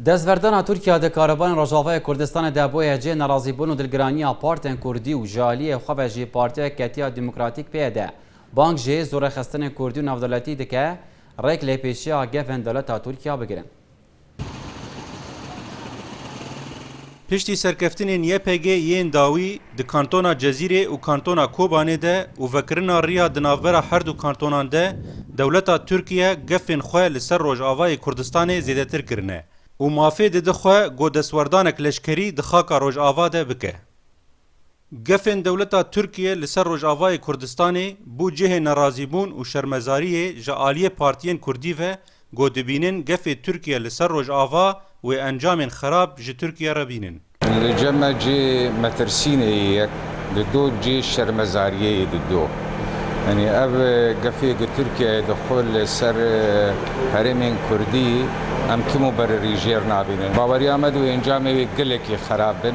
Destverdana Tirkiya di karevanên Rojavayê Kurdistanê de bûye cihê nerazîbûn û dilgiraniya partên Kurdî û ji aliyê xwe ve jî Partiya Yeketiya Demokratîk, PYD, bang ji zorexistinên Kurdî û navdewletî dike, rêk lêpêçiya gevên dewleta Tirkiya bigirin. Piştî serkeftinên YPG yên dawî di kantona Cezîrê û kantona Kobanê de û vekirina riya di navbera her du kantonan de, dewleta Tirkiye gefên xwe li ser Rojavayê Kurdistanê zêdetir kirine û mafê dide xwe ku destwerdanek leşkerî di xaka Rojava de bike. Gefên dewleta Tirkiyê li ser Rojavayê Kurdistanê bû cihê nerazîbûn û şermezariyê ji aliyê partiyên Kurdî ve ku dibînin gefê Tirkiye li ser Rojava wê encamên xerab ji Tirkiye re bînin. Li cema cê metirsînê yê yek dido cê şermezariyê yê dido. Yanî ev gefê ku Tirkiyeyê di xwe li ser herêmên Kurdî em tim û berirîjêr nabînin. Baweriya me di wê encamê wê gelekî xerab bin.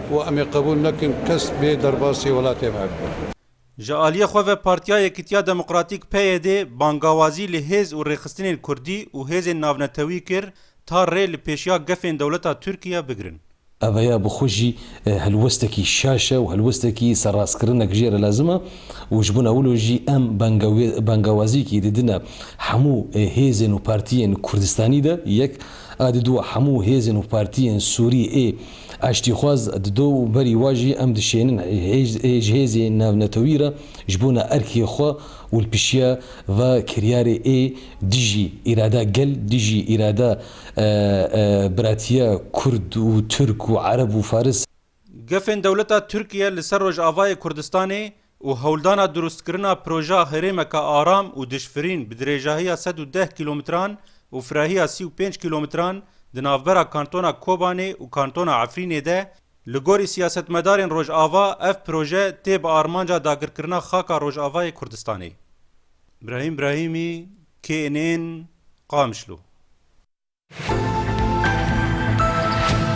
Û em ê qebûl nekin kes bê derbasî welatê me bibe. Ji aliyê xwe ve Partiya Yekîtiya Demokratîk, PYD, bangawazî li hêz û rêxistinên kurdî û hêzên navnetewî kir ta rê li pêşiya gefên dewleta Tirkiye bigirin. Eveya bi xwe jî helwestekî şaş e û helwestekî serrastkirinek jê re lazim e û ji bona wilo jî em bangawaziyekî didine hemû hêzên û partiyên Kurdistanî de, yek, a di dû a hemû hêzên û partiyên Sûrî ê. Aştîxwaz dido û berî wa jî em dişênin ji hêzê navnetewî re ji bona erkê xwe û li pişiya va kiryarê ê dijî îrada gel, dijî îrada biratiya kurd û turk û ereb û faris. Gefên dewleta Tirkiye li ser Rojavayê Kurdistanê û hewldana durustkirina proja herêmeke aram û dijfirîn bi dirêjahiya sed û deh kîlometran û firahiya sî û pênc kîlometran di navbera kantona Kobanê û kantona Efrînê de li gorî siyasetmedarên Rojava ev proje tê bi armanca dagirkirina xaka Rojavayê Kurdistanê. Brahîm Brahîmî, KNN, Qamişlo.